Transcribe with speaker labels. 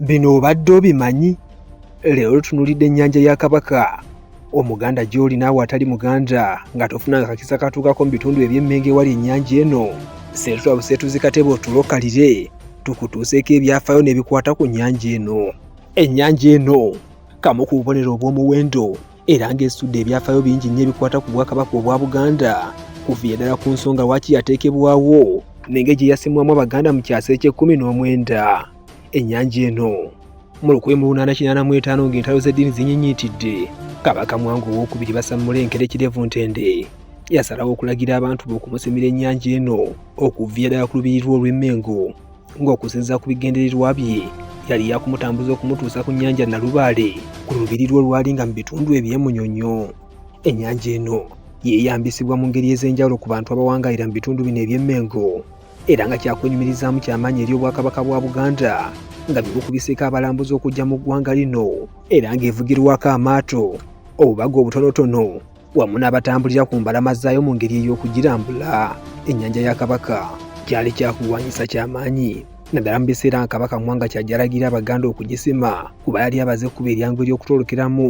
Speaker 1: bino obadde obimanyi leero tunulidde ennyanja ya kabaka omuganda gy'oli naawe atali muganda nga tofunanga kakisa katuukako mu bitundu eby'emmengo ewali ennyanja eno seetutwa buseetuzi katebe otulokalire tukutuuseeko ebyafaayo n'ebikwata ku nnyanja eno ennyanja eno kamu ku bubonero obw'omuwendo era ng'esudde ebyafaayo bingi nnyo ebikwata ku bwakabaka obwa buganda kuviira ddala ku nsonga lwaki yateekebwawo nenge gye yasimwamu abaganda mu kyasa eky'ekkumi n'omwenda ennyanja eno mu lukumi mu lunaana kinaana mu etaano ng'entalo z'eddiini zinyinyitidde kabaka mwangu owokubiri basammula enkere kirevu ntende yasalawo okulagira abantu be okumusimira ennyanja eno okuviya ddala ku lubirirwa olw'emmengo ng'okusinziira ku bigendererwa bye yali yakumutambuza okumutuusa ku nnyanja nalubaale ku lubirirwa olwali nga mu bitundu ebyemunyonyo ennyanja eno yeeyambisibwa mu ngeri ez'enjawulo ku bantu abawangalira mu bitundu bino eby'emmengo era nga kyakunyumirizaamu kyamaanyi eri obwakabaka bwa Buganda nga bigukubiseeko abalambuzi okujja mu ggwanga lino era ng'evugirwako amaato obubaga obutonotono wamu n'abatambulira ku mbalama zaayo mu ngeri ey'okugirambula ennyanja ya Kabaka kyali kyakulwanyisa kyamaanyi naddala mu biseera nga Kabaka Mwanga kyajalagira Abaganda okugisima kuba yali abaze ekkubo eryangu ery'okutolokeramu